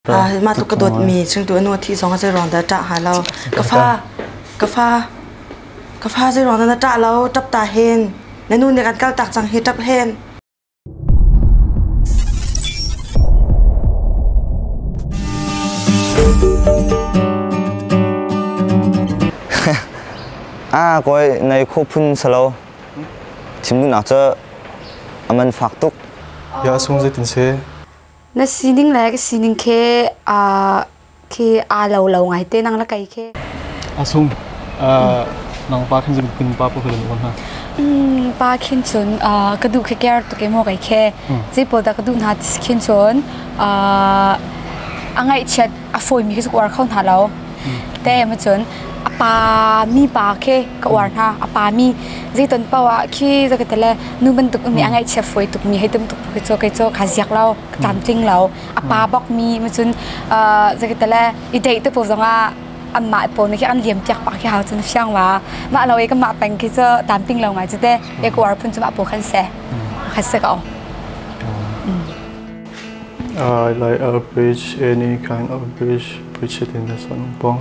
Mah tluk ka dawtmi chungtu anu a thih zong ah zeiruang dah ṭah hnga lo. Ka fa, ka fa, ka fa zeiruang dah na ṭah lo? Ṭap ta hen. Na nu nih kan kal tak cang hi ṭap hen. Ah, koi ngai kho phun salo. Chimdunak cu aman fak tuk. Ya sung zeitin se. Na sining le ka sining khi aa khi aa lo lo ngai te nang la kei khi. A sung. Nang pa khin zing pa pa khin ngon ha. Mm, pa khin chun ka du khi care tu ke mo kai khe. Ji pol da ka du na tis khin chun a ngai chiat a fawimi khi cu ka uar kho hna lo te em cun a pa mi pa khi ka uar hna a pa mi zei ton pawa khi zo ka tele nu bantuk mi a ngaihchia foi tuk mi hei tum tuk khi cho kai cho kha ziak lo ka tlamtling lo a pa bok mi ma cun zo ka tele i dei te po zonga an mah po ni khi an liam piak pa khi hau cun fiang wa ma lo e ka ma peng khi cho tlamtling lo ngai chu te e ko ar phun chu ma po khan se kha se ka o I like average any kind average push-it in the sun pong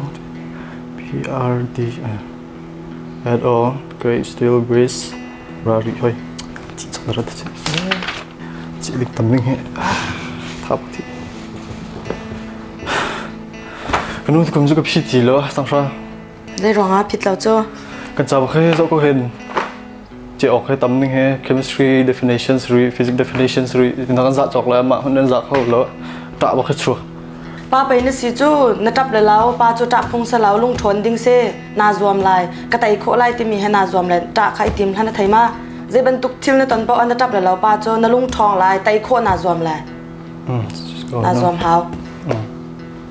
P_R_D at all great steel brace rari hoi cih chang rat cih cih dik tam ding he thap thi kanu kam zu ka phi ti lo sang sha Zeiruangah phit lo cu? Kan cauk he zoh ko hin che awk he tam ning he chemistry definitions ri physics definitions ri na kan zah cawk le mah hun nan zah kho lo ta ba kha chu pa pei na si cu na tap le lau pa cu tap phung sa lau lung thon ding se na zuam lai ka tai kho lai timi he na zuam le ta kha i tim hlan thai ma ze bantuk thil na ton bao na tap le lau pa cu na lung thong lai tai kho na zuam lai na zuam hau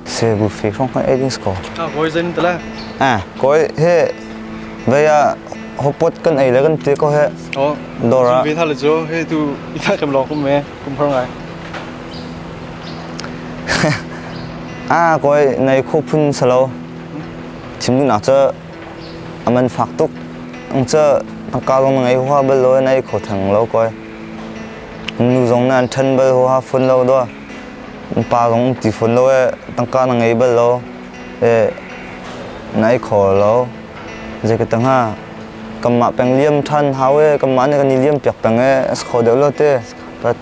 Sabufi hrawng hna ei dis kaw. Ah kawi zan tala. Ah kawi he vei ah hopot kan ei le kan te ko he. Oh. Dora. Bin hal jo he tu ita kam lo kum me kum har ngai. Ah kawi nei khu phun salo. Chimnu nak cha aman fak tuk. Ang cha angkalong ngai hua bel lo nei kho thang lo kawi. Nu zong nan than bel hua phun lo do. Upa zong ti fawn lo ee. Tangka na ngei bal lo ee. Na ei kho lo. Zei ka tang ha. Kanmah peng liam ṭhan hau ee. Kanmah nih kan i liam piak peng ee. As kho deuh lo te. But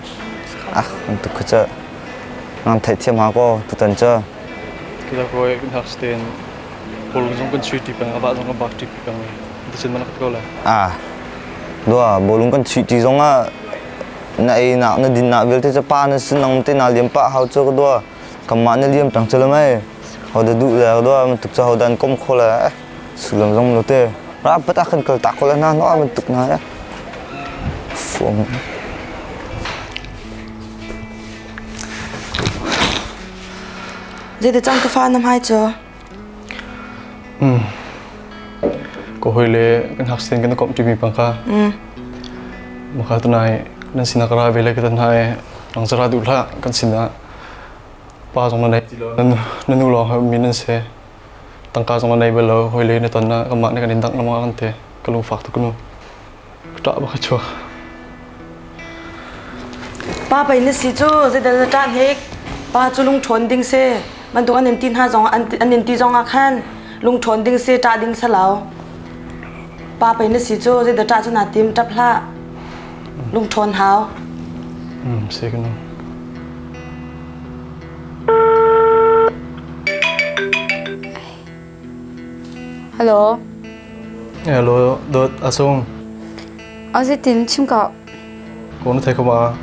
ah tuk kha cu. Ngan theih thiam ha ko tutan cu. Kila koe kan hak sten. Bol zong kan chuih ṭi peng. Aba zong kan bak ṭi pi peng. Dicin mana ko lai. Ah. Dua bolung kan chuih ṭi zong ah Na einak na dinnak vialte cu pa na sinong te naa liam pah hau cu ka dua kanmah na liam peng cu lo mei hodah duh le ka dua bantuk cu hodan kom kho le eh sullam zong lo te rak pat ah kan kal tak ko le na no bantuk na eh fuang Jadi cang ka fa na mai cho Ka hawi le kan hak sen kan i komh ṭimi pa kha maka tunai nan sinah ka ra ve le ka tan hna i nang zara duh hlah kan sinah pa zong na nei na nu lawng mi nan se tangka zong na nei bal lo hawi le na ton na kanmah ne kan in dangh lamang kan te ka lung fak tuk nu Pa pei na si cu zeidang na ṭah hnik pa cu lungṭhawn ding si bantuk an in ti hna zong an in ti zong ah khan lungṭhawn ding si ṭah ding salau pa pei na si cu zeidah ṭah cu naa tim ṭap hlah lungṭhawn hau mm si kan Dawt a sung. A zetin chimka. Ko na thei kuma.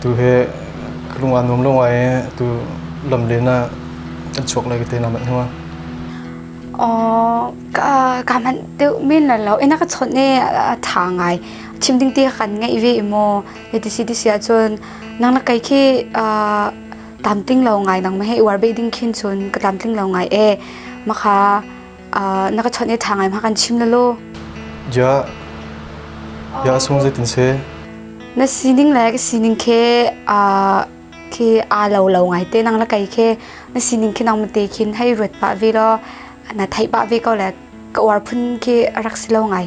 Tu he kelung an nuam lung ai tu lam le na an chuak lai ke te na mat huma. ka ka man te min la lo ina ka chon ne tha ngai chim ding ti kan ngai ve mo e ti si ti sia chon nang na kai khi tlamtling lo ngai nang mehei uar be ding khin cun ka tlamtling lo ngai e makha na ka chawnh e tha ngai ma kan chim na lo ya ya sung zai tin se na sining le ka sining khe a khi a lo lo ngai te nang la kai khe na sining khe nang ma te khin hei ruat pa ve lo na thai pa ve ko le ka uar phun khi rak si lo ngai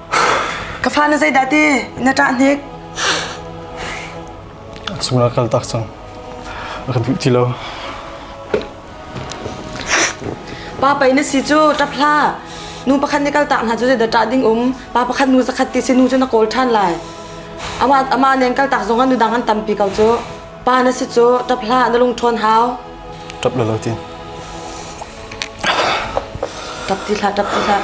Ka fa na zeidah ti na ṭah hnik? A cungah kal tak cang. A kan duh ti lo. Pa pei na si cu ṭap hlah. Nu pakhat nih kal tak hna cu zeidah ṭah ding um. Pa pakhat nu zakhat ti si nu cu na kawl ṭhan lai. Amah amah len kal tak zongah nudang an tampi ko cu. Pa na si cu ṭap hlah na lungṭhawn hau. Ṭap lo lo tin. Ṭap ti hlah, ṭap ti hlah.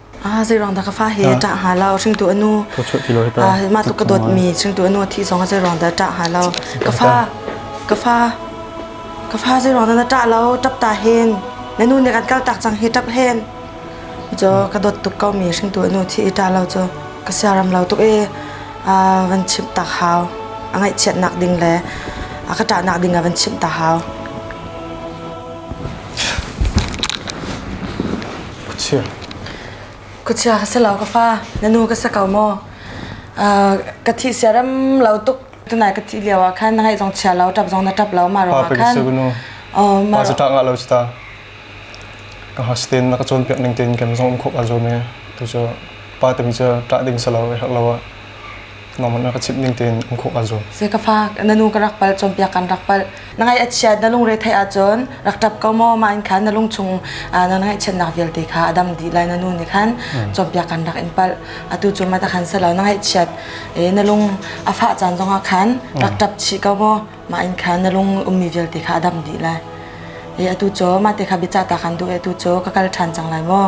Ah, zeirang da ka fa he ta ha lao hringtu anu. Ah, ma tu ka dot mi hringtu anu thi zong zeirang da ta ha lao. Ka fa ka fa ka fa zeirang da ta lao tap ta hen. Nanu ne kan kal tak chang hi tap hen. Jo ka dot tuk kau mi hringtu anu thi ta lao jo. Ka siaram lao tuk e ah van chim tak hau. Angai chiat nak ding le aka ta nak ding a van chim ta hau. Khuachia ka si lo ka fa, na nu ka si ko maw? Uh, ka thih siaram lo tuk tunai ka thih lio ah khan na ngaih zong chia lo, ṭap zong na ṭap lo, ma ro ah khan. Pa cu ṭak nga lo cita. Ka hasten na ka cawnpiak ning tein kan zong um khop a zo me. Tu cu pa temi cu ṭah ding si lo, e hak lo ah. nangmah na ka chimh ning tein um khawh kaa zuam. Se ka fa na nu ka rak pal cawnpiak kan rak pal na ngai achiat na lungre thei ahcun rak ṭap ko maw ma in khan na lung chung na ngai chiat nak vialte kha adam di lai na nu ni khan cawnpiak kan rak in pal atu cu mata khan se lo na ngai chiat e na lung a fa caan zongah khan rak ṭap chi ko maw ma in khan na lung ummi vialte kha adam di lai e atu cho ma te kha bicha ta kan du e tu cho ka kal ṭhan chang lai maw